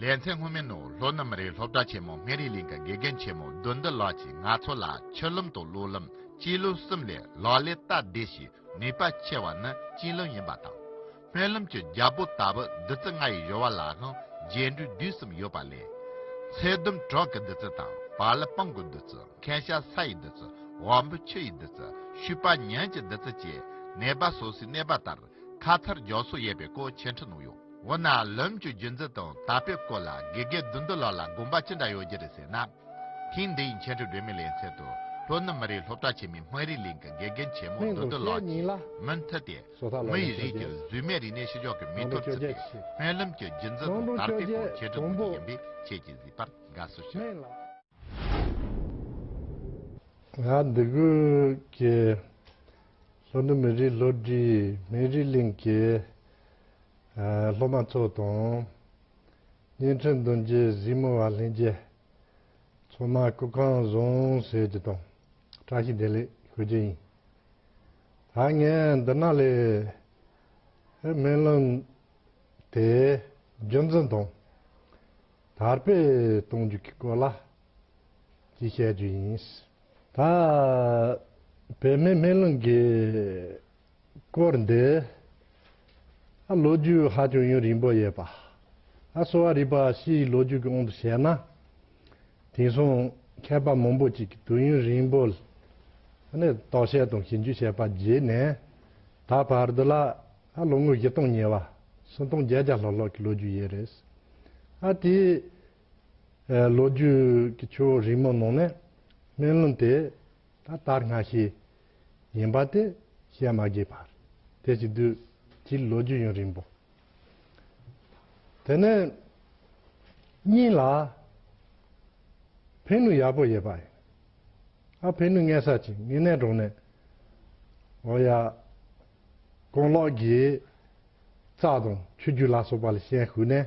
ལས་མཚན་སྔོན་མའི་ནོར་ལྷོ་རྣམ་རའི་སློབ་གྲྭ་ཆེན་མོ་སྨན་རིའི་གླིང་གི་དགེ་རྒན་ཆེན་མོ་བདུད་འདུལ་ལགས་ཀྱིས་ང་ཚོ་ལ་ཆུ་ལུམ་དང་གློག་ལུམ་སྤྱི་ལུམ་གསུམ་ལས་ལག་ལེན་སྟབས་བདེ་ཞིག་ནུས་པ་ཆེ་བ་ནི་སྤྱི་ལུམ་ཡིན་པ་དང། སྨན་ལུམ་གྱི་རྒྱལ་པོ་ལྟ་བུ་བདུད་རྩི་ལྔ་ཡི་གཡོ་བ་ལའང་རྒྱས་འགྲོས་དུས་གསུམ་ཡོད་པ་ལས། ཚད་ལྡུམ་གྲོག་གི་བདུད་རྩི་དང་བ་ལི་སྤང་གི་བདུད་རྩི་མཁན་ཤ་ས་ཡི་བདུད་རྩི་བ་འབུ་ཆུ་ཡི་བདུད་རྩི་བཤུས་པ་གཉན་གྱི་བདུད་རྩི་བཅས་ནད་པ་སོ་སོའི་གནས་པ་ལྟར་ཁ་མཚར་སྦྱོར་སོགས་ཡས་པའི་སྐོར་ཆེ་ཕྲ་ནོ་ཡོད། འོ་ན་ལམ་གྱི་རྒྱུན་འཛིན་དང་དག་པའི་སྐོར་ལ་དགེ་རྒན་བདུད་འདུལ་ལགས་ལ་དགོངས་པ་ཅི་འདྲ་ཡོད་རྒྱུ་རེད་ཟེར་ན། ཐེངས་འདིའི་མཁན་སྤྲུལ་སྒྲོལ་མའི་ལན་ཚད་དུ་ལྷོ་ནུབ་མི་རིགས་སློབ་གྲྭ་ཆེན་མོའི་དམངས་རིགས་གླིང་གི་དགེ་རྒན་ཆེན་མོ་བདུད་འདུལ་ལགས་ཀྱིས་མུ་མཐུད་དེ། མི་ཡི་རིགས་ཀྱི་གཟུགས་མེད་རིག་གནས་ཤི་གཞོག་གི་མེ་ཐོར་བརྩིས་པའི་སྨོན་ལམ་གྱི་རྒྱུན་འཛིན་དང་དར་སྤེལ་སྐོར་ཆེ་ཕྲ་ནོ་རྒྱུ་ཡིན་པས་ཁྱེད་ཀྱིས་གཟིགས་པར་དགའ་བསུ་ཞུ། ང་འདི་གུས་ཀྱི། ལྷོ་ནུབ་མི་རིགས་ལྷོ་སྒྲིལ་མི་རིགས་གླིང་གི་སློབ་མ་ཚོ་དང། གཉན་ཁྲི་མདུན་རྒྱལ་གཟིགས་མོ་བ་ལྷན་རྒྱས། མཚོ་སྨད་སྐུ་ཁང་བཟང་ཟས་ཀྱི་དང་བཀྲ་ཤིས་བདེ་ལེགས་ཞུ་རྒྱུ་ཡིན། ད་ངས་འདི་ན་ལས་སྨོན་ལམ་དེ་རྒྱུན་འཛིན་དང་དར་སྤེལ་གཏོང་རྒྱུ་གི་སྐོར་ལ་ཅེས་བཤད་རྒྱུ་ཡིན། ད་བོད་མི་སྨན་ལུང་གི་སྐོར་འདི་ཨ་ལོ་རྒྱུས་ཧ་ཅང་ཡུན་རིང་པོ་ཡོད་པ། ཨ་གསོ་བ་རིག་པ་ཕྱིའི་ལོ་རྒྱུས་ཀྱི་དབང་དུ་བྱས་ན། དེང་སང་མཁས་པ་མང་པོ་ཅིག་གིས་དུས་ཡུན་རིང་པོ་ནས་རྟོག་བཤད་དང་ཞིབ་འཇུག་བྱས་པ་བརྒྱུད་ནས་ད་བར་དུ་ལ་ཨ་ལོ་ངོ་བཞི་སྟོང་ཉེ་བ་སུམ་སྟོང་བརྒྱད་བརྒྱ་ལྷག་ལྷག་གི་ལོ་རྒྱུས་ཡོད་རེད། ཨ་དེའི། ལོ་རྒྱུས་ཀྱི་ཆོས་རིག་མ་ནོར་ནས་སྨན་ལུང་དེ་ད་ལྟར་སྔ་ཤེས་ཡིན་པ་དེ་བཤད་མ་དགོས་པར་དེ་ཞིག་དུས་ཀྱི་ལོ་རྒྱུས་ཡུན་རིང་པོ། དེ་ནས་གཉིས་ལ་ཕན་ནུས་ཡག་པོ་ཡོད་པ་ཡིན། ཨ་ཕན་ནུས་ངན་ས་ཅིག་ངེད་གནས་གྲོང་ནས་འོ་ཡ་ཀོང་ལོག་གིས་རྩྭ་དང་ཆུ་རྒྱུས་ལ་སོགས་པ་ལ་ཤན་ཞུགས་ནས་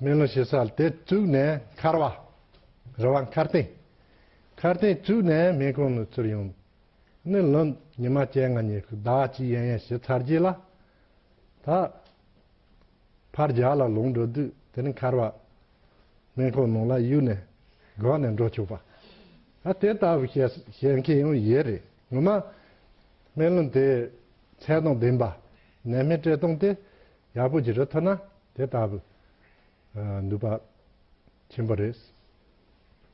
མེ་ལོང་བྱེད་ས་དེ་བཙུགས་ནས་མཁར་བ་རི་བ་མཁར་སྟེང་མཁར་སྟེང་བཙུགས་ནས་མེ་གང་ནུས་ཚུར་ཡོང། ནི་ལོ་ཉི་མ་བཅལ་ང་ཉེ་ཟླ་བ་གཅིག་ཡན་ཡན་བྱེད་ཚར་རྗེས་ལ། ད་ཕར་རྒྱ་ལ་ལོངས་འགྲོ་དུས་དེ་ནི་མཁར་བ་མེ་གང་ནང་ལ་གཡུགས་ནས་སྒོག་ནས་འགྲོ་ཆོག་པ། ད་དེ་ལྟ་བུ་བྱེད་མཁན་ཡང་ཡོད་རེད་ངོ་མ། མེ་ལོང་དེ་ཚད་དང་ལྡན་པ་ནད་མེད་བཀྲེས་སྟོང་དེ། ཡག་པོ་ཅི་རེད་ཐོས་ན་དེ་ལྟ་བུ་ནུས་པ་ཆེན་པོ་རེད།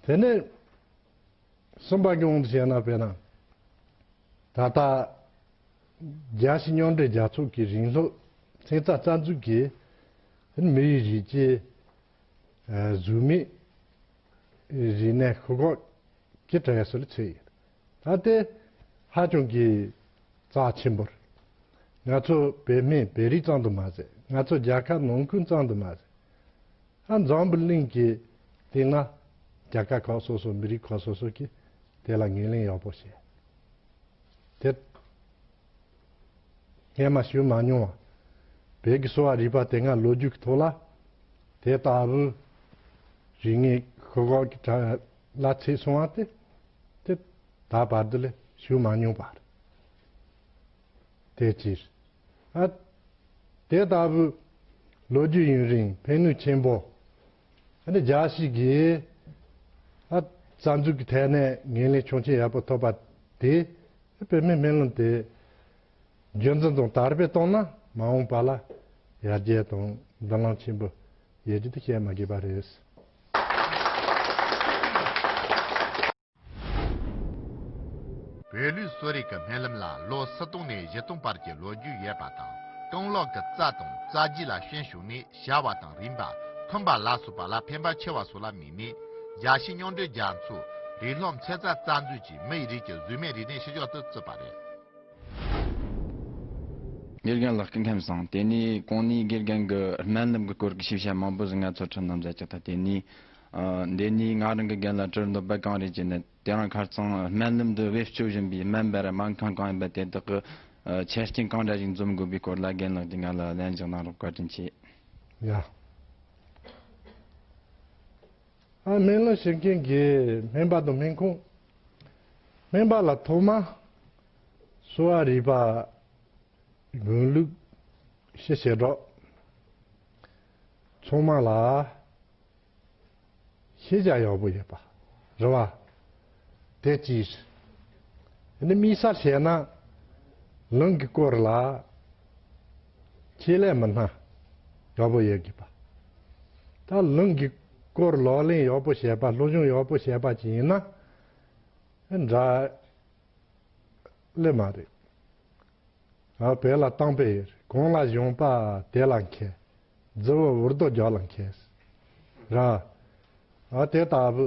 དེ་ནས་གསུམ་པ་གྱོང་དུ་བྱས་ན་དཔེར་ན། ད་ལྟ་རྒྱ་ཕྱི་མཉམ་འབྲེལ་རྒྱལ་ཚོགས་ཀྱི་རིང་ལུགས་ཚན་རྩལ་རྩ་འཛུགས་ཀྱིས་མིའི་རིགས་ཀྱི་གཟུགས་མེད་རིག་གནས་ཤོག་ཁག་གི་གྲས་སུ་ཚུད་ཡོད། ད་ལྟའི་ཧ་ཅང་གི་རྩ་ཆེན་པོར། ང་ཚོ་བོད་སྨན་བོད་རིགས་ཙམ་དུ་མ་ཟད་ང་ཚོ་རྒྱལ་ཁབ་ནང་ཁུལ་ཙམ་དུ་མ་ཟད། ཧ་འཛམ་བུ་གླིང་གི་སྟེང་ན་རྒྱལ་ཁབ་ཁག་སོ་སོ་མི་རིགས་ཁག་སོ་སོ་གིས་དེ་ལ་ངེས་ལེན་ཡག་པོ་བྱས། དེ་སྔས་མ་ཞུས་མ་མྱོང་བ་བོད་ཀྱི་གསོ་བ་རིག་པ་དེ་སྔ་ལོ་རྒྱུས་ཀྱི་ཐོག་ལ་དེ་ལྟ་བུ་རིག་ངེས་ཤོག་ཁག་གི་གྲ། ལ་ཚེ་བསྲུང་བ་སྟེ། དེ་ད་བར་དུ་ལས་ཞུགས་མ་མྱོང་བར་དེའི་ཕྱིར། དེ་ལྟ་བུའི་ལོ་རྒྱུས་ཡུན་རིང་ཕན་ནུས་ཆེན་པོ་འདི་འཇགས་ཤིག་གིས། རྩ་འཛུགས་ཀྱི་ཐད་ནས་འགན་ལེན་ཆོག་མཆན་ཡག་པོ་ཐོབ་པ་དེས་བོད་མིའི་སྨན་ལམ་དེ་རྒྱུན་འཛིན་དང་དར་སྤེལ་གཏོང་ན་མ་འོངས་པ་ལ་ཡར་རྒྱས་དང་འདུན་ལམ་ཆེན་པོ་ཡས་ཀྱིས་དེ་བཤད་མ་དགོས་པ་རེད། བོད་ལུགས་གསོ་རིག་གི་སྨན་ལམ་ལ་ལོ་ས་སྟོང་ནས་བཞི་སྟོང་བར་གྱི་ལོ་རྒྱུས་ཡོད་པ་དང་སྟོང་ལོག་གི་རྩ་དང་རྩ་རྗེས་ལ་ཤན་ཞུགས་ནས་བྱ་བ་དང་རིམ་པ་འཁུམས་པ་ལ་སོགས་པ་ལ་ཕན་པ་ཆེ་བ་སོགས་ལ་དམིགས་ནས་རྒྱ་ཤི་རྙོག་འདྲེས་རྒྱ་མཚོ། རི་ལྷོམ་ཚེ་རྩ་རྩ་འཛུད་ཀྱིས་མི་ཡི་རིགས་ཀྱི་གཟུགས་མེད་རིག་གནས་ཕྱི་ཕྱོགས་སུ་བཙུད་པ་རེད། དགེ་རྒན་ལགས་སྐད་ངྷམས་བཟང་དེ་ནི་གོང་ནས་དགེ་རྒན་གི་སྨན་ལམ་གི་སྐོར་གྱི་ཤེས་བྱ་མང་པོ་ཟིན་ང་ཚོར་འཁྲབ་གནང་མཛད་ཀྱི་ཐ་དད་ནི། འདི་ནི་ང་རང་གི་རྒན་ལ་གྲུར་འདོགས་པ་གང་རེད་ཅེ་ན་དེ་རང་ཁར་ཚང་སྨན་ལམ་དུ་བེད་སྤྱོད་བཞིན་པའི་སྨན་པའི་སྨན་ཁང་གང་ཡིན་པ་དེ་དག་གི་ཆ་རྐྱེན་གང་འདྲ་ཞིག་འཛོམས་དགོས་པའི་སྐོར་ལ་རྒན་ལགས་ཀྱིས་ང་ལ་ལན་བཞག་གནང་རོགས་བཀའ་དྲིན་ཆེ། ཡ། སྨན་བླ་ཞིག་མཁྱེན་དགེས་སྨན་པ་དང་སྨན་ཁུངས། སྨན་པ་ལ་ཐོག་མ་གསོ་བ་རིག་པ་དགོས་ལུགས་ཞེས་བཤད་གྲོགས། ཚོང་མ་ལ་ཤེས་བྱ་ཡག་པོ་ཡོད་པ་རེད་བ། དེ་ཅི། ནི་མི་ས་བྱས་ན། ལུང་གིས་བསྐོར་ལ། ཁྱེད་ལས་མི་སྣ། ཡོག་པོ་ཡོད་དགོས་པ། ད་ལུང་གིས་བསྐོར་ལོག་ལེན་ཡོག་པོ་བྱས་པ་སློབ་སྦྱོང་ཡོག་པོ་བྱས་པ་ཅིག་ཡིན་ན། འདྲ། ལེ་མ་རེད། ཨ་བེ་ལ་སྟངས་པས་ཡོད་རེད་གང་ལ་གཞུང་པ་དེ་ལ་མཁས། རྫི་བོ་འུར་རྡོ་རྒྱག་ལ་མཁས། ར། ཨ་དེ་ལྟ་བུ།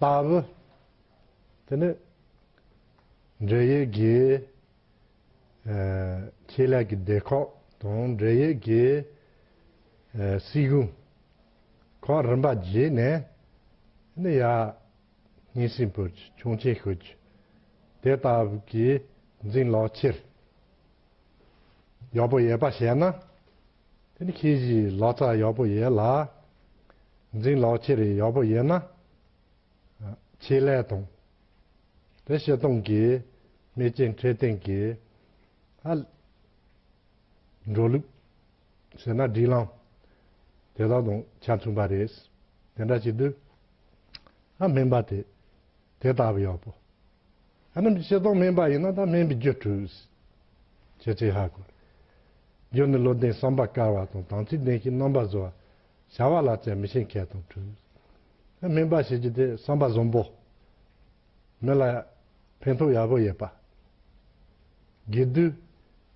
ལྟར། དེ་ནས་འབྲེལ་ཡོད་དགེ། ཁེ་ལས་ཀྱི་སྡེ་ཁག་དང་འབྲེལ་ཡོད་དགེ། སྲིད་གཞུང། ཁག་རིམ་པ་བརྗེས་ནས། ནི་ཡ། ཉིན་སྲིང་བོད་ཀྱི་ཁྱུང་ཆེན་ཤོད་རྒྱུ། དེ་ལྟ་བུ་གྱི་འཛིང་ལག་ཁྱེར། ཡག་པོ་ཡོད་པ་བཤད་ན། དེ་ནི་ཁྱེད་ཀྱིས་ལག་ཆ་ཡག་པོ་ཡོད་ལ། འཛིན་ལག་ཁྱེར་ཡག་པོ་ཡོད་ན། ཆེད་ལས་དང། དེ་བྱེད་སྟངས་ཀྱི་མེ་ལྕེ་འཕྲེད་སྟེང་གི། ཨ། འགྲོ་ལུགས། ཟེར་ན་སྒྲིག་ལམ། དེ་དག་དང་ཆ་མཐུན་པ་རེད། དེ་འདྲ་བྱེད་དུས། ཨ་སྨན་པ་དེ། དེ་ལྟ་བུ་ཡོད་པོ། ཨ་ནི་བྱེད་སྟངས་སྨན་པ་ཡིན་ན་ད་སྨན་པའི་རྒྱུ་བྲུས། བྱེད་ཚེ་ཧ་གོ། རྒྱུ་ནི་བློ་ལྡན་བསམ་པ་དཀར་བ་དང་དམ་ཚིག་ལྡན་ཞིང་རྣམ་པ་བཟོ་བ། བྱ་བ་ལ་བཙན་མི་ཤེས་མཁས་དང་བྲུས། ཨ་སྨན་པ་བྱེད་རྒྱུ་དེ་བསམ་པ་བཟང་པོ། མི་ལ་ཕན་ཐོགས་ཡག་པོ་ཡོད་པ། དགེ་བསྡུས།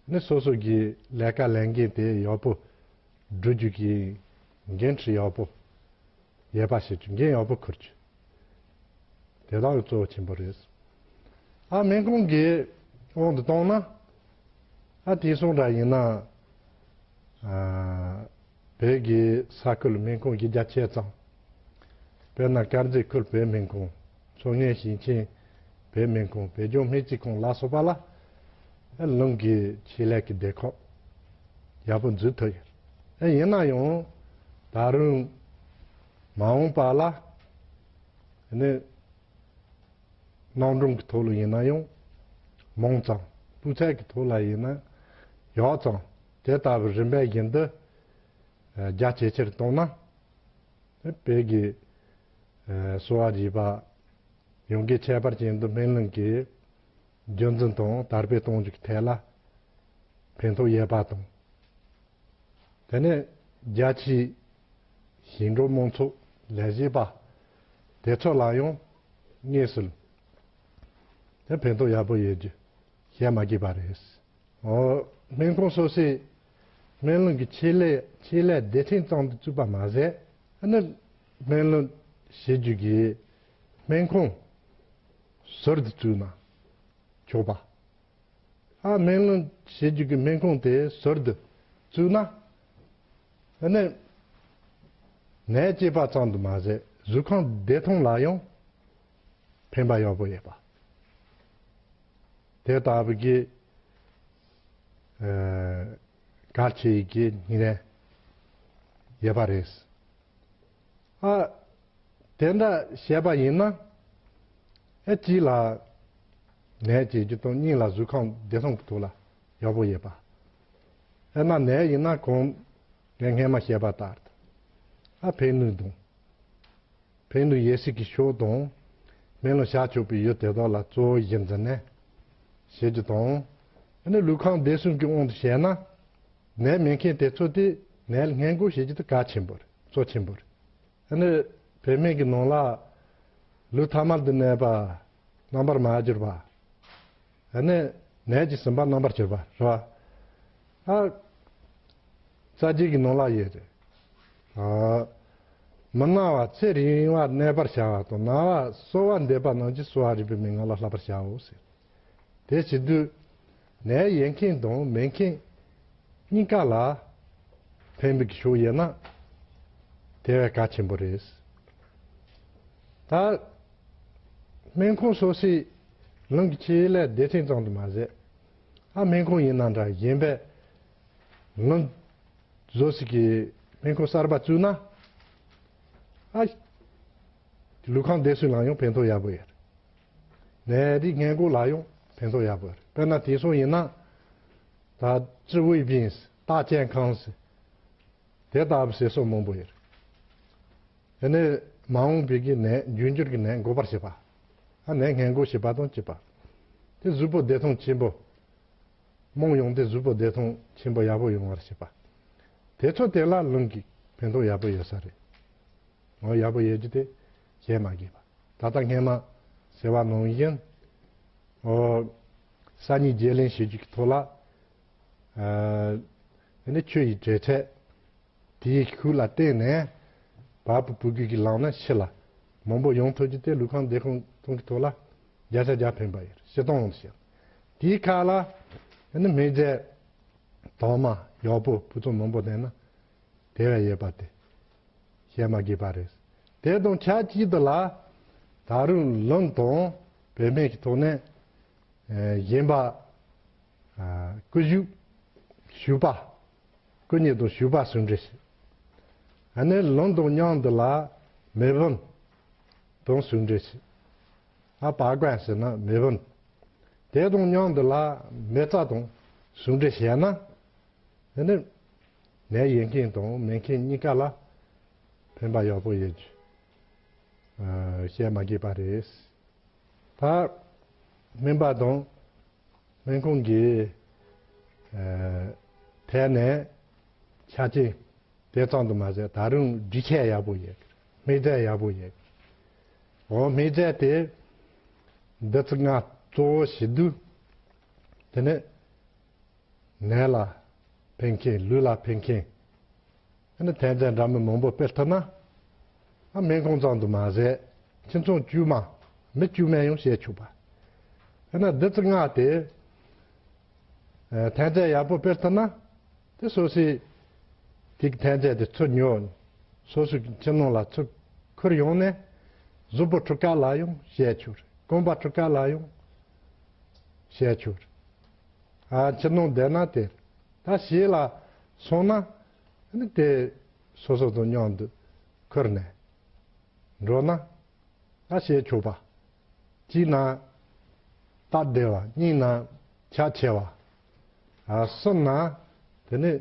ནི་སོ་སོ་གིས་ལས་ཀ་ལས་འགན་དེ་ཡག་པོ་བསྒྲུབ་རྒྱུ་ཡིན། འགན་འཁྲི་ཡག་པོ་ཡས་པ་བྱེད་རྒྱུ་འགན་ཡག་པོ་འཁུར་རྒྱུ་དེ་དག་གི་གཙོ་བོ་ཆེན་པོ་རེད་ཨ་སྨན་གོང་གི་དབང་དུ་བཏང་ན་ཨ་དེའི་གསུང་སྒྲ་ཡིན་ན་བོད་ཀྱི་ས་ཁུལ་སྨན་ཁུང་བརྒྱ་ཆའི་ཙམ་དཔེར་ན་དཀར་མཛེས་ཁུལ་བོད་སྨན་ཁུང། མཚོ་སྔོན་ཞིང་ཆེན་བོད་སྨན་ཁང་བོད་ལྗོངས་སྨན་རྩིས་ཁང་ལ་སོགས་པ་ལ་ཨེ་རླུང་གི་ཆེད་ལས་ཀྱི་སྡེ་ཁག་ཡག་པོ་འཛུགས་ཐུབ་ཡོད། ཨེ་ཡིན་ན་ཡང་ད་རུང་མ་འོངས་པ་ལ་ནི་སྣང་གྲུང་གི་ཐོག་ལ་ཡིན་ན་ཡང་མང་ཙམ་སྤུས་ཚད་ཀྱི་ཐོག་ལ་ཡིན་ན་ཡག་ཙམ་དེ་ལྟ་བུའི་རིམ་པའི་བཞིན་དུ་རྒྱ་ཇེ་ཆེར་བཏང་ན། བོད་ཀྱི་གསོ་བ་རིག་པ་ཡོངས་ཀྱི་ཁྱད་པར་ཅན་དུ་སྨན་གླིང་གི་རྒྱུན་འཛིན་དང་དར་སྤེལ་གཏོང་རྒྱུ་ཐད་ལ་ཕན་ཐོགས་ཡོད་པ་དང། དེ་ནས་རྒྱ་ཆེའི་ཞིང་འབྲོག་དམངས་ཚོགས་ལས་བྱེད་པ་དེ་ཚོ་ལ་ཡང་དངོས་སུ་ཕན་ཐོགས་ཡག་པོ་ཡོད་རྒྱུ་བཤད་མ་དགོས་པ་རེད། སྨན་ཁང་སོ་སོའི་སྨན་བློན་གྱི་ཆེད་ལས་ཆེད་ལས་སྡེ་ཁྲིན་ཙང་དུ་བཙུགས་པ་མ་ཟད། ཨ་ནི་སྨན་བློན་བྱེད་རྒྱུ་གི་སྨན་ཁང་ཟུར་དུ་བཙུགས་ན་ཆོག་པ། ཨ་སྨན་བློན་བྱེད་རྒྱུ་གི་སྨན་ཁང་དེ་ཟུར་དུ་བཙུགས་ན། ཨ་ནི་ནད་སྐྱེས་པ་ཙང་དུ་མ་ཟད་གཟུགས་ཁང་བདེ་ཐང་ལ་ཡང་ཕན་པ་ཡག་པོ་ཡོད་པ། དེ་ལྟ་བུ་གི། དགའ་བྱེད་ཀྱི་ནི་ཡོད་པ་རེད། ཨ། དེ་འདྲ་བྱས་པ་ཡིན་ན། ཨེ་གཅིག་ལ་ནད་ཅེས་རྒྱུ་དང་གཉིས་ལ་གཟུགས་ཁམས་བདེ་སྟོང་གི་ཐུགས་ལ་ཡག་པོ་ཡོད་པ། ཨེ་ན་ནད་ཡིན་ན་གོང་ངས་སྔས་མ་བཤད་པ་ལྟར་དུ་ཨ་ཕའི་ནུས་དང། བེང་ལུ་ཡེ་ཤེས་ཀྱི་ཤོག་དང། མེ་ལོང་ཞགས་བཅུག་པའི་ཡུལ་དེ་དག་ལ་གཙོ་བོའི་གཞི་འཛིན་ནས། ཞེས་རྒྱུ་དང། འདི་ནི་ལུས་གང་བདེ་སྲུང་གི་དབང་དུ་བྱས་ན། ནད་མེད་མཁན་དེ་ཚོ་དེས་ནད་ལ་སྔས་འགོག་བྱེད་རྒྱུ་དེ་གལ་ཆེན་པོ་རེད་གཙོ་ཆེན་པོ་རེད། འདི་ནི་བུད་མེད་ཀྱི་ནང་ལ། ལུས་ཐ་མར་དུ་གནས་པ། རྣམ་པར་མ་གྱུར་པ། འདི་ནི་ནད་ཀྱིས་ཟིན་པ་རྣམ་པར་གྱུར་པ་རེད། ཨ། རྩ་རྒྱུད་ཀྱི་ནང་ལག་ཡོད་རེད། ཨ། མི་སྣང་བ་ཚེ་རིང་བར་གནས་པར་བྱ་བ་དང་སྣང་བ་གསོ་བ་འདེབས་པ་ནང་གི་གསོ་བ་རིག་པའི་མན་ངག་ལ་བསླབ་པར་བྱའོ་ཟེར། དེ་བྱེད་དུས། ནད་ཡལ་མཁན་དང་མེད་མཁན། གཉིས་ཀ་ལ། ཕན་པའི་གཞུག་ཡལ་ན། དེ་བས་གལ་ཆེན་པོ་རེད། ད། སྨན་ཁང་སོ་སོས། རང་གི་ཆེད་ལས་བདེ་ཐང་ཙམ་དུ་མ་ཟད། ཨ་སྨན་ཁུང་ཡིན་ན་འདྲ་གཞན་པས་ངུ། བཟོ་ཟིག་གིས་སྨན་ཁུང་གསར་པ་བཙུགས་ན་ཨ། ལུས་ཁང་བདེ་སུས་ལངས་ཡོང་ཕན་ཐོགས་ཡག་པོ་ཡོད། ནད་རིགས་ངན་སྐུ་ལག་ཡོང་ཕན་ཐོགས་ཡག་པོ་ཡོད་དཔེར་ན་དེང་སང་ཡིན་ན། ད་ཀྲི་ཝུའི་བིན་སི་རྟགས་ཅན་ཁང་སི། དེ་ལྟ་བུ་ཟེར་སོགས་མང་པོ་ཡོད། དེ་ནས་མ་འོངས་པའི་གི་ནད་རྒྱུན་འགྱུར་གི་ནད་འགོ་པར་བྱེད་པ། ཨ་ནེ་ངན་དགུ་ཞེས་པ་དང་བཅས་པ། དེ་གཟུགས་པོ་བདེ་སྟོང་ཆེན་པོ། རྨོངས་ཡོང་དེ་གཟུགས་པོ་བདེ་སྟོང་ཆེན་པོ་ཡག་པོ་ཡོང་བར་བྱེད་པ། དེ་ཚོ་དེ་ལ་ལུང་གིས་ཕན་ཐོགས་ཡག་པོ་ཡོད་ས་རེད། ངོ་ཡག་པོ་ཡོད་རྒྱུ་དེ་བྱེད་མ་དགོས་པ། ད་ལྟ་སྔས་མ་ཟེར་བ་ནང་བཞིན། ཨོ། ས་གཉིས་བརྗེ་ལེན་བྱེད་རྒྱུ་གི་ཐོག་ལ། ཨ། དེ་ནི་ཁྱོད་ཀྱི་བྲེལ་ཚད། དེའི་ཤུགས་ལ་བརྟེན་ནས་བར་བུ་བུ་རྒྱུད་ཀྱི་ལག་ན་ཕྱི་ལ་མང་པོ་ཡོང་ཐུབ་རྒྱུ་དེ་ལུས་ཁམས་བདེ་ཁོང་ཚང་གི་ཐོག་ལ་བརྒྱ་ཆ་བརྒྱ་ཕན་པ་ཡོད་ཞེས་སྟོང་བཤད། དེའི་ཁ་ལ་ནི་མེ་བརྒྱད། དྭངས་མ་ཡོག་པོ་བུ་ཚོང་མང་པོ་ལྡན་ན་དེ་བས་ཡོད་པ་དེ་བཤད་མ་དགོས་པ་རེད། དེ་དང་ཆབས་ཅིག་ཏུ་ལ་ད་རུང་ལུང་དང་བོད་སྨན་གྱི་ཐོག་ནས་གཞན་པ། སྐུ་བཞུགས། བཞུགས་པ། སྐུ་ཉིད་དང་བཞུགས་པ་ཟུང་འབྲེལ་བྱེད། ཨ་ནེ་ལུང་དང་གཉང་འདི་ལ་མེས་བུན། དང་ཟུང་འབྲེལ་བྱེད། ཨ་བ་གོན་ཟེར་ན་མེས་བུན། དེ་དང་གཉང་འདི་ལ་མེ་བཙའ་དང་ཟུང་འབྲེལ་བྱས་ན། ཨེ་ནི། ནས་ཡེ་མཁྱེན་དང་མེ་མཁྱེན་གཉིས་ཀ་ལ་ཕན་པ་ཡག་པོ་ཡོད་རྒྱུ། བཤད་མ་དགོས་པ་རེད། ད། སྨན་པ་དང། སྨན་ཁང་གི་ཐད་ནས་ཆ་རྐྱེན་དེ་ཙམ་དུ་མ་ཟད་ད་རུང་སྒྲིག་ཆས་ཡག་པོ་ཡོད། སྨན་རྫས་ཡག་པོ་ཡོད། འོ་སྨན་རྫས་དེ་འདི་ཚོ་ང་གཙོ་བོ་བྱེད་དུས་དེ་ནི་ནད་ལ་ཕན་མཁན་ལུས་ལ་ཕན་མཁན། ཨ་ནི་དད་ལྡན་འདྲ་མིན་མང་པོ་སྤེལ་ཐུབ་ན། ཨ་སྨན་ཁང་ཙམ་དུ་མ་ཟད་ཁྱིམ་ཚང་དཀྱུས་མ་མི་དཀྱུས་མས་ཡང་བྱེད་ཆོག་པ། ཨ་ནི་བདུད་རྩི་ལྔ་སྟེ། ཐན་རྫས་ཡག་པོ་སྤེལ་ཐུབ་ན། དེ་སོ་སོའི་དེ་གི་ཐན་རྫས་དེ་ཚུར་ཉོས་སོ་སོའི་ཁྱིམ་ནང་ལ་ཚུར་ཁུར་ཡོང་ནས་གཟུགས་པོ་འཁྲུ་ཀ་ལ་ཡང་བྱེད་ཆོག་རྐང་པ་འཁྲུ་ཀ་ལ་ཡང་བྱེད་ཆོག། ཨ་ཁྱིམ་ནང་བསྡད་ན་དེ་ད་བྱས་ལ་སོང་ན་དེ་སོ་སོ་དང་མཉམ་དུ་འཁོར་ནས་འགྲོ་ན་ང་བྱེད་ཆོག་པ། གཅིག་ན་སྟབས་བདེ་བ་གཉིས་ན་ཁྱད་ཆེ་བ། གསུམ་ན་དེ་ནི་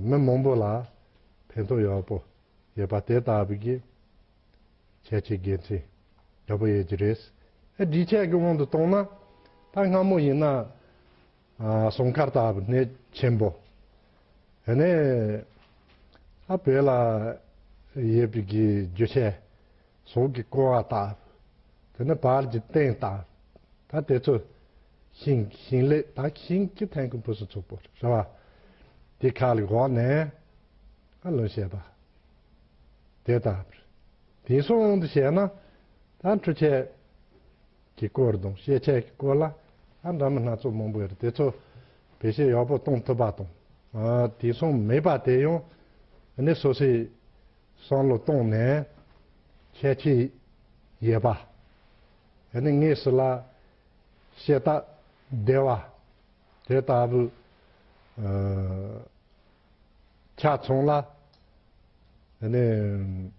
མི་མང་པོ་ལ་ཕན་ཐོགས་ཡག་པོ་ཡོད་པ་དེ་ལྟ་བུ་གྱི་ཁྱད་ཆེ་དགེ་མཚན་ཡག་པོ་ཡོད་ཀྱི་རེད། སྒྲིག་ཆས་ཀྱི་དབང་དུ་བཏང་ན་ད་སྔ་མོ་ཡིན་ན། སྲུང་སྐར་དག་གནས་ཆེན་པོ། དེ་ནས་ཨ་བེ་ལ་ཡོད་པའི་རྒྱུ་ཆའི་གཟུགས་ཀྱི་ཀོ་བ་དག། དེ་ནས་བར་གྱི་སྟེང་དག་ད་དེ་ཚོ་ཤིང་ཤིང་ལས་ད་གི་ཤིང་གི་ཐན་ཀུན་བུ་སུ་ཚུགས་པོ་རེ་བ་དེ་ཁ་ལ་གོག་ནས་ཨ་ལུང་བཤད་པ་དེ་དག་དེ་སྲུང་དུ་བྱས་ན་ད་འཕྲུ་ཆས་གི་སྐོར་དང་ཤེས་བྱའི་སྐོར་ལ་ཨ་འདྲ་མི་སྣ་ཚོགས་མང་པོ་ཡོད་དེ་ཚོ་བེད་སྤྱད་ཡག་པོ་གཏོང་ཐུབ་པ་དང་དེང་སང་མེད་པ་དེ་ཡང་ནས་སོ་སོས་བསམ་བློ་བཏང་ནས་ཁྱད་ཆོས་ཡོད་པ་ནས་ངེས་སུ་ལ་ཤེས་རྟགས་བདེ་བ་དེ་ལྟ་བུ་ཆ་ཚང་ལ་ནས།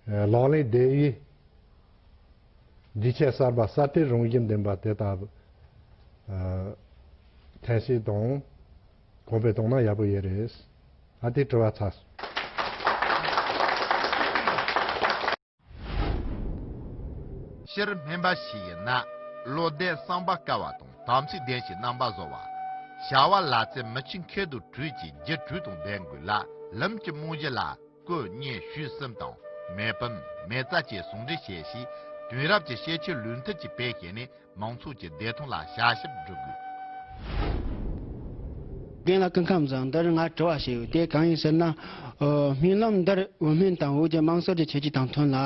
ལག་ལེན་བདེན་དབྱེ། འདྲིས་ཆས་གསར་པ་གསར་གཏོད་རང་བཞིན་ལྡན་པ་དེ་དག་ཐེངས་ཤིག་དང་གོང་འཕེལ་གཏོང་ན་ཡག་པོ་ཡོད་རེད། ཨ་ཏི་བཀྲི་བ་ཚ། ཕྱིར་སྨིན་པ་ཞིག་ཡིན་ན། བློ་ལྡན་གསང་བ་དཀར་བ་དང་དམ་ཚིག་ལྡན་ཞིང་རྣམ་པ་བཟོ་བ། བྱ་བ་ལ་རྩལ་མི་ཆེ་མཁས་དུར་ཁྲོད་ཀྱི་རྒྱུ་འཕྲུལ་དང་ལྡན་དགོས་ལ་ལམ་གྱི་རྨང་གཞི་ལ། བཀོད་བརྙན་བཞུད་གསུམ་དང་མེ་ཕུམ། མེ་བཙའ་བཅས་ཟུང་འབྲེལ་བྱས་ཤིང། དུས་རབས་ཀྱི་ཤེས་འཆོས་ལུས་མཐུན་གྱི་དཔེ་བཞེས་ནས་མང་ཚོགས་ཀྱི་བདེ་ཐང་ལ་བྱ་ཞིབ་བསྒྲུབ་དགོས། གདན་ལ་སྐུ་ཁམས་བཟང་འདིར་ང་དྲི་བ་བྱས་ཡོད་དེ་གང་ཡིན་ཟེར་ན། སྨོན་ལམ་འདིར་འོས་སྨན་དང་འོས་ཀྱི་དམངས་སྲོལ་གྱི་ཆོས་བརྒྱུད་དང་མཐུན་ལ།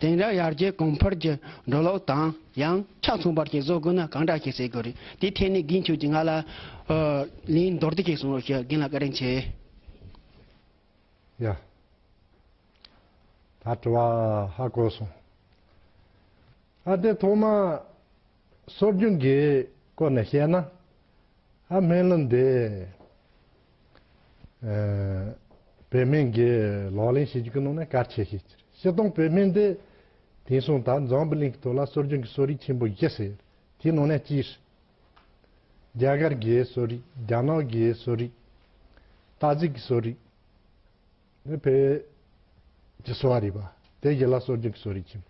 དེང་རབས་ཡར་རྒྱས་གོང་འཕེལ་གྱི་འགྲོ་ལུགས་དང་ཡང་ཆ་མཚུངས་པར་གྱི་བཟོ་དགོས་ན་གང་འདྲ་ཞིག་བྱེད་དགོས་རེད་དེའི་ཐད་ནས་རྒན་ཁྱོད་ཀྱིས་ང་ལ་ལན་མདོར་བསྡུས་ཤིག་གསུང་རོགས་ཞེས་རྒན་ལ་བཀའ་དྲིན་ཆེ། ཡ། ད་དྲི་བ་ཧ་གོ་སོང། ཨ་དེ་ཐོག་མ། སྲོལ་རྒྱུན་གྱི་སྐོར་ནས་བཤད་ན། ཨ་སྨན་བླུན་དེ། བོད་སྨན་གྱི་ལག་ལེན་བྱེད་རྒྱུ་གི་ནང་ནས་གལ་ཆེ་ཤོས་ཅི་རེད། སྤྱིར་བཏང་བོད་སྨན་དེ། དེང་སང་ད་འཛམ་བུ་གླིང་གི་ཐོག་ལ་སྲོལ་རྒྱུན་གྱི་གསོ་རིག་ཆེན་པོ་བཞི་ཟེར། དེའི་ནང་ནས་སྤྱིར། རྒྱ་གར་གྱི་གསོ་རིག་རྒྱ་ནག་གི་གསོ་རིག། ཏཱ་ཇིག་གི་གསོ་རིག། ནི་བོད་ཀྱི་གསོ་བ་རིག་པ་དེ་གཞི་ལ་གསོ་སྦྱོང་གི་གསོ་རིག་ཅིང།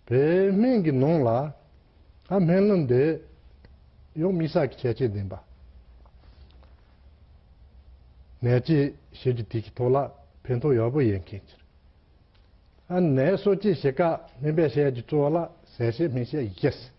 བོད་སྨན་གྱི་ནང་ལ་སྨན་ལུགས་འདི་ཡང་དམིགས་བསལ་གྱི་ཁྱད་ཆོས་ལྡན་པ། ནད་དཔྱད་ཞིབ་ཀྱི་ཐིག་གི་ཐོག་ལ་ཕན་ཐོགས་ཡག་པོ་ཡོད་མཁན་ཕྱིར། ནད་གསོ་བཅོས་བྱེད་སྐབས་སྨན་པས་བཤད་རྒྱུ་གཙོ་བོ་ལ་ཟས་བཤད་སྨན་བཤད་ཡིག་བཤད།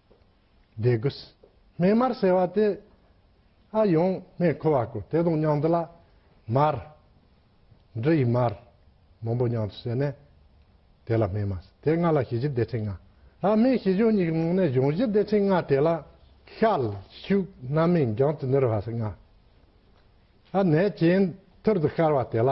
དགུ། སྨན་མར་ཟེར་བ་དེ། ཨ་ཡོང་སྨན་ཁུ་བ་ཀུ་དེ་དང་མཉམ་དུ་ལ། མར། འབྲུ་ཡི་མར། མང་པོ་མཉམ་དུ་བསྲེས་ནས། དེ་ལ་སྨན་མ་ཟེར། དེ་ལྔ་ལ་ཞི་བཞི་བདེ་ཆེན་ལྔ། ཨ་སྨན་ཞི་གཞོན་གཉིས་ཀྱི་ནང་ནས་གཞོན་བཞི་བདེ་ཆེན་ལྔ་དེ་ལ། ཤལ། ཤུག། སྣ་མིན་རྒྱང་དུ་སྣུར་བ་སོགས་ལྔ། ཨ་ནད་གྱེན་ཐུར་དུ་བཤར་བ་དེ་ལ།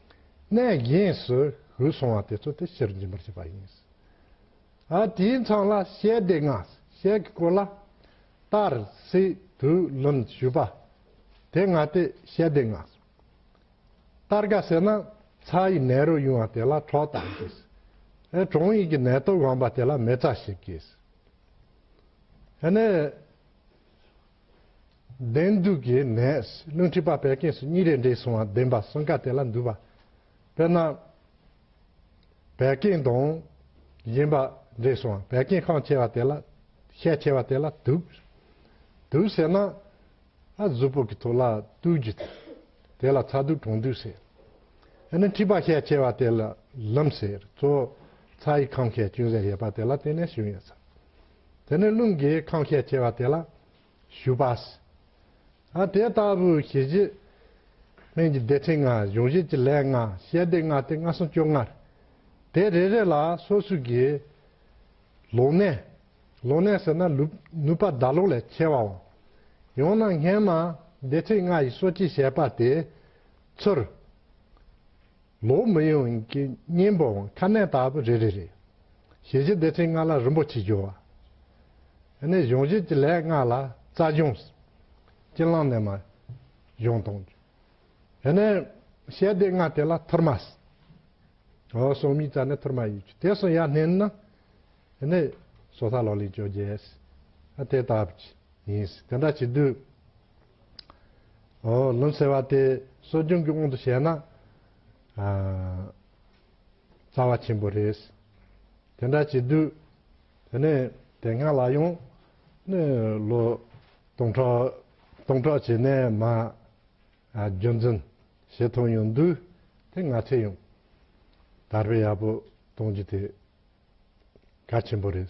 གནས་གཞན་སུ་ཞུགས་སོང་བ་དེ་ཚོ་དེ་ཕྱིར་འབྱིན་པར་བྱེད་པ་ཡིན། ཨ་དེའི་མཚང་ལ་ཤའི་སྡེ་ལྔ་ཤའི་གི་སྐོར་ལ། དར་སི་དུ་ལུན་ཞུས་པ། དེ་ལྔ་སྟེ་ཤའི་སྡེ་ལྔ། དར་ག་ཟེར་ན་ཚ་ཡི་ནད་རོ་དབྱུང་བ་དེ་ལ་ཁྲོག་དང་སྐྱེས། ཨེ་གྲོང་ཡིག་གི་ནད་དུག་དབང་པ་དེ་ལ་མེ་བཙའ་ཞེས་སྐྱེས། ཨེ་ནས། བདེན་གཏུགས་ཀྱི་ནས་རླུང་མཁྲིས་པ་བད་ཀན་སོ་གཉིས་རེས་འདྲེས་སོང་བ་བདེན་པ་སོ་འགའ་དེ་ལ་འདུས་པ། དཔེར་ན། བད་ཀན་དང། གཞན་པ་འདྲེས་སོང་བ་བད་ཀན་ཁང་ཆེ་བ་དེ་ལ། ཤས་ཆེ་བ་དེ་ལ་དུགས། དུགས་ཟེར་ན། ཨ་གཟུགས་པོ་གི་ཐུགས་ལ་དུགས་རྒྱུ་དེ། དེ་ལ་ཚ་དུགས་གྲང་དུགས་ཟེར། རླུང་མཁྲིས་པ་ཤས་ཆེ་བ་དེ་ལ་ལམ་ཟེར། གཙོ་བོ་ཚ་ཡི་ཁམས་ཤས་ཅུང་ཟད་ཡོད་པ་དེ་ལ་དེ་ནས་བྱུང་ཡོད་ས། དེ་ནས་རླུང་གིས་ཁམ་ཤས་ཆེ་བ་དེ་ལ་ཞུགས་པ། དེ་ལྟ་བུའི་གཞི་བཞི། ལྷན་ཅིག་བདེ་ཆེན་ལྔ་གཞུང་བཞི་ཀྱི་ལས་ལྔ་ཞལ་བདེ་ལྔ་སྟེ་ལྔ་གསུམ་བཅོ་ལྔར། དེ་རེ་རེ་ལ་སོ་སོའི་དགེ། ལོག་གནས། ལོག་གནས་ཟེར་ན་ནུས་པ་བདག་ལོག་ལས་ཆེ་བའོ། ཡང་ན་སྔས་མ་བདེ་ཆེན་ལྔ་ཡི་སོ་སྐྱེའི་ཞལ་པ་དེས་ཚོར། ལོ་མི་ཡོངས་ཀྱི་གཉེན་པོའང་ཁ་ནད་ལྟ་བུ་རེ་རེ་རེད། ཞལ་གྱི་བདེ་ཆེན་ལྔ་ལ་རིན་པོ་ཆེ་རྒྱུ་བ། ནས་གཞུང་བཞེད་ཀྱི་ལས་ལྔ་ལ་རྩ་གཞུང། ཀྱི་བླང་གནས་མ། གཞུང་དང། ནས། ཞལ་བདེ་ལྔ་དེ་ལ་ཐུར་མ། ཨོ་སོ་མི་རྩ་ནས་ཐུར་མ་ཡིས་ཀྱི་དེ་སོ་ཡ་བསྣན་ན། ནས། སོ་ས་ལོ་ལིང་བཅོ་བརྒྱད། དེ་ལྟ་བུ། ཡིན། དེ་འདྲ་བྱེད་དུས། ལུམས་ཟེར་བ་དེ་གསོ་སྦྱོང་གི་དབང་དུ་བྱས་ན་རྩ་བ་ཆེན་པོ་རེད། དེ་འདྲ་བྱེད་དུས་དེ་ནས་དེ་སྔ་ལ་ཡང་ནི་ལོ་སྟོང་ཕྲག་བྱས་ནས་མ་རྒྱུན་འཛིན་བྱེད་ཐུབ་ཡོང་དུས་དེ་ང་ཚོས་ཡང་དར་སྤེལ་ཡག་པོ་གཏོང་རྒྱུ་དེ་གལ་ཆེན་པོ་རེད།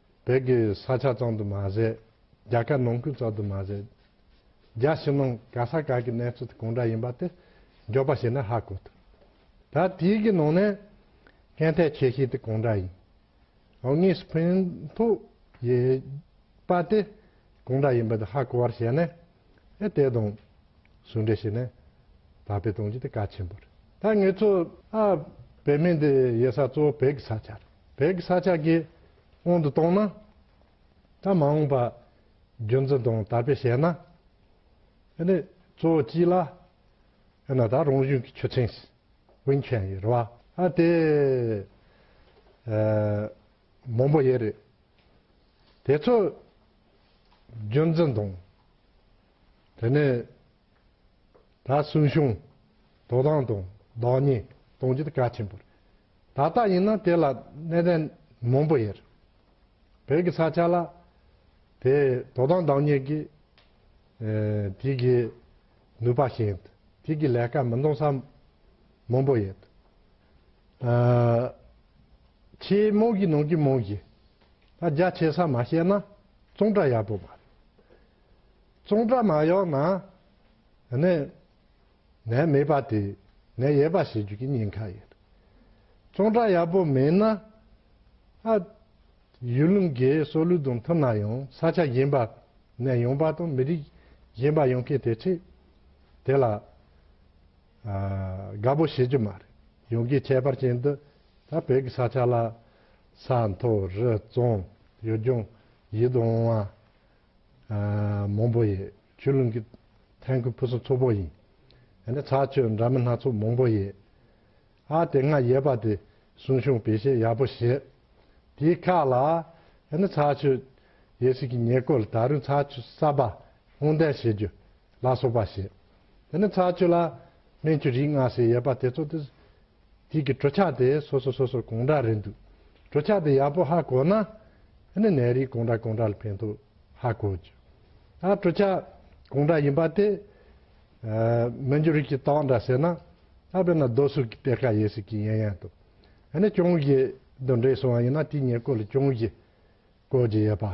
བོད་ཀྱི་ས་ཆ་གཙང་དུ་མ་ཟད། རྒྱ་གར་ནང་ཁུལ་གཙང་དུ་མ་ཟད། རྒྱ་ཕྱི་ནང་ག་ས་ག་གི་གནས་ཚུལ་དེ་གང་འདྲ་ཡིན་པ་དེ་འཇོག་པ་བྱས་ན་ཧ་གོ་ཐུབ། ད་དེའི་གི་ནང་ནས་གན་ཐད་ཆེ་ཤོས་དེ་གང་འདྲ་ཡིན། འོ་དངོས་སུ་ཕན་ཐོགས་ཡོད་པ་དེ་གང་འདྲ་ཡིན་པ་དེ་ཧ་གོ་བར་བྱས་ན། ཨེ་དེ་དང། ཟུང་འབྲེལ་བྱས་ནས་དར་སྤེལ་གཏོང་རྒྱུ་དེ་གལ་ཆེན་པོ་རེད། ད་ངེད་ཚོ་ཨ་བེད་མེད་འདི་ཡོད་ས་གཙོ་བོ་བོད་ཀྱི་ས་ཆ་རེད། བོད་ཀྱི་ས་ཆ་དགེ་དབང་དུ་བཏང་ན། ད་མ་འོངས་པ་རྒྱུན་འཛིན་དང་དར་སྤེལ་བྱས་ན། ཨེ་ནས་གཙོ་བོ་སྤྱི་ལ་ཨེ་ན་ད་རང་གཞུང་གི་ཆུ་ཚན་ཞིག་དབེན་མཁན་ཡོད་རེད་བ། ཨ་དེ་མང་པོ་ཡོད་རེད། དེ་ཚོ། རྒྱུ་མཚན་དང། དེ་ནས་ད་སུན་ཞུང་དོ་བདག་དང་བདག་ཉིད་གཏོང་རྒྱུ་དེ་གལ་ཆེན་པོ་རེད། ད་ལྟ་ཡིན་ན་དེ་ལ་གནད་དོན་མང་པོ་ཡོད་རེད། བོད་ཀྱི་ས་ཆ་ལ་དེ་དོ་བདག་བདག་ཉིད་ཀྱི་དུས་ཀྱི་ནུས་པ་ཞན་དུས་ཀྱི་ལས་ཀ་མི་འདང་ས་མང་པོ་ཡོད། ཆེས་རྨོངས་ཀྱི་ནང་གི་རྨོངས་གྱི། རྒྱ་ཆེ་ས་མ་བཤད་ན་ཙོང་ཁྲ་ཡག་པོ་མ་རེད། ཙོང་ཁྲ་མ་ཡོག་ན་ནས་ནས་མེད་པ་དེ་ནས་ཡས་པ་བྱེད་རྒྱུ་གི་ཉེན་ཁ་ཡོད། ཙོང་ཁྲ་ཡག་པོ་མེད་ན་ཨ་ཡུལ་ལུང་གི་སྲོག་ལུས་དང་མཐུན་ན་ཡང་ས་ཆ་གཞན་པ་ནས་ཡོང་པ་དང་མི་རིགས་གཞན་པ་ཡོང་མཁན་དེ་ཁྲིད་དེ་ལ། དགའ་པོ་བྱེད་རྒྱུ་མ་རེད། ཡོང་གི་ཁྱད་པར་ཅན་དུ་ད་བོད་ཀྱི་ས་ཆ་ལ། ས་མཐོ་རི་བཙོང་ཡུལ་ལྗོངས་ཡིད་དུ་འོང་བ། མང་པོ་ཡོད་ཆུ་ཀླུང་གི་ཐན་ཁུལ་ཕུན་སུམ་ཚོགས་པོ་ཡིན། ཡང་ན་ཚྭ་ཆུ་འདྲ་མིན་སྣ་ཚོགས་མང་པོ་ཡོད། ཨ་དེ་སྔར་ཡོད་པ་དེ་སྲུང་སྐྱོང་བེད་སྤྱད་ཡག་པོ་བྱེད། དེའི་ཁ་ལ། ཡང་ན་ཚྭ་ཆུ་ཡོད་སྲིད་ཀྱི་ཉེ་སྐོར་ལ་ད་རུང་ཚྭ་ཆུ་གསར་པ་སྔོག་འདོན་བྱེད་རྒྱུ་ལ་སོགས་པ་བྱེད། དེ་ནི་ཚྭ་ཆུ་ལ་སྨན་གྱི་རིགས་ལྔ་ཞེས་ཡོད་པ་དེ་ཚོ་སྟེ། དུས་ཀྱི་གྲུ་ཆག་དེ་སོ་སོ་སོ་སོར་གང་འདྲ་རེད་འདུག་གྲུ་ཆག་དེ་ཡག་པོ་ཧ་གོ་ན། དེ་ནི་ནད་རིགས་གང་འདྲ་གང་འདྲ་ལ་ཕན་ཐོགས་ཧ་གོ་རྒྱུ། ད་གྲུ་ཆག་གང་འདྲ་ཡིན་པ་དེ། སྨན་གྱི་རིགས་ཀྱི་སྟངས་འདྲ་ཟེར་ན། ད་དཔེར་ན་རྡོ་སུག་གི་གཏེར་ཁ་ཡོད་སྲིད་ཀྱི་ཡན་ཡན་དུ། དེ་ནི་ཅོང་ཞི་དུ་འདྲེས་སོང་བ་ཡིན་ན་དེའི་ཉེར་མཁོ་ལ་ཅོང་ཞི་བཀོལ་གྱི་ཡོད་པ།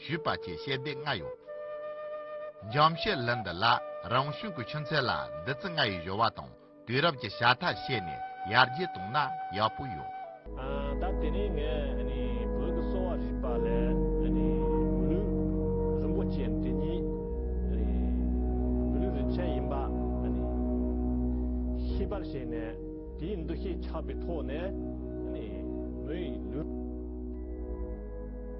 ཞུས་པ་བཅས་བཤད་སྡེ་ལྔ་ཡོད། འཇམ་བཤད་ལུན་འདི་ལ་རང་གཞུང་གི་ཆུ་ཚད་ལ་འདི་ཚིག་ལྔ་ཡི་གཞོལ་བ་དང་དུས་རབས་ཀྱི་བྱ་ཐག་བཤད་ནས་ཡར་རྒྱས་བཏང་ན་ཡག་པོ་ཡོད། ད་དེ་ནས་ངས་བོད་ཀྱི་གསོ་བ་རིག་པ་ལས་བོད་ལུགས་རིན་པོ་ཆེ་འདི་ཉིད་བོད་ལུགས་རིན་ཆེན་ཡིན་པ་ཤེས་པར་བྱས་ནས་དེའི་འདུ་ཤེས་ཆགས་པའི་ཐོག་ནས་བོད་ལུགས